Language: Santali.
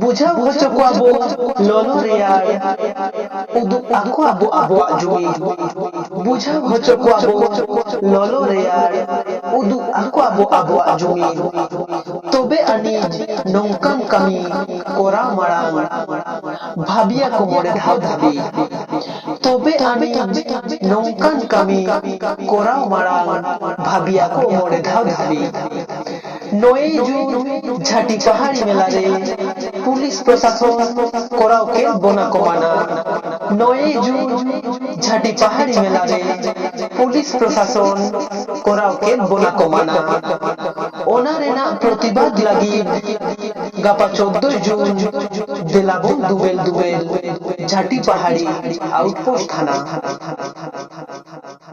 ᱵᱩᱡᱷᱟᱹᱣ ᱦᱚᱪᱚ ᱠᱚᱣᱟ ᱵᱚ ᱞᱚᱞᱚ ᱨᱮᱭᱟᱲ ᱩᱫᱩᱜ ᱟᱠᱚᱣᱟ ᱵᱚ ᱟᱵᱚᱣᱟᱜ ᱡᱩᱢᱤ ᱵᱩᱡᱷᱟᱹᱣ ᱦᱚᱪᱚ ᱠᱚᱣᱟ ᱵᱚ ᱞᱚᱞᱚ ᱨᱮᱭᱟᱲ ᱩᱫᱩᱜ ᱟᱠᱚᱣᱟ ᱵᱚ ᱟᱵᱚᱣᱟᱜ ᱡᱩᱢᱤ ᱛᱚᱵᱮ ᱟᱹᱱᱤᱡ ᱱᱚᱝᱠᱟᱱ ᱠᱟᱹᱢᱤ ᱠᱚᱨᱟᱣ ᱢᱟᱲᱟᱝ ᱵᱷᱟᱹᱵᱤᱭᱟ ᱠᱚ ᱢᱚᱬᱮ ᱫᱷᱟᱣ ᱫᱷᱟᱹᱵᱤᱡ ᱛᱚᱵᱮ ᱟᱹᱱᱤᱡ ᱱᱚᱝᱠᱟᱱ ᱠᱟᱹᱢᱤ ᱠᱚᱨᱟᱣ ᱢᱟᱲᱟᱝ ᱵᱷᱟᱹᱵᱤᱭᱟ ᱠᱚ ᱢᱚᱬᱮ ᱫᱷᱟᱣ ᱫᱷᱟᱹᱵᱤᱡ᱾ ᱱᱚᱭᱮ ᱡᱩᱱ ᱡᱷᱟᱹᱴᱤ ᱯᱟᱦᱟᱲᱤ ᱢᱮᱞᱟ ᱨᱮ ᱯᱩᱞᱤᱥ ᱯᱨᱚᱥᱟᱥᱚᱱ ᱠᱚᱨᱟᱣ ᱠᱮᱫ ᱵᱚᱱᱟ ᱠᱚ ᱢᱟᱱᱟ᱾ ᱱᱚᱭᱮ ᱡᱩᱱ ᱡᱷᱟᱹᱴᱤ ᱯᱟᱦᱟᱲᱤ ᱢᱮᱞᱟ ᱨᱮ ᱯᱩᱞᱤᱥ ᱯᱨᱚᱥᱟᱥᱚᱱ ᱠᱚᱨᱟᱣ ᱠᱮᱫ ᱵᱚᱱᱟ ᱠᱚ ᱢᱟᱱᱟ᱾ ᱚᱱᱟ ᱨᱮᱱᱟᱜ ᱯᱨᱚᱛᱤᱵᱟᱫᱽ ᱞᱟᱹᱜᱤᱫ ᱜᱟᱯᱟ ᱪᱳᱫᱫᱳ ᱭ ᱡᱩᱱ ᱫᱮᱞᱟᱵᱚᱱ ᱫᱩᱵᱮᱞ ᱫᱩᱵᱮᱞ ᱡᱷᱟᱹᱴᱤ ᱯᱟᱦᱟᱲᱤ ᱟᱣᱩᱴᱯᱳᱥᱴ ᱛᱷᱟᱱᱟ᱾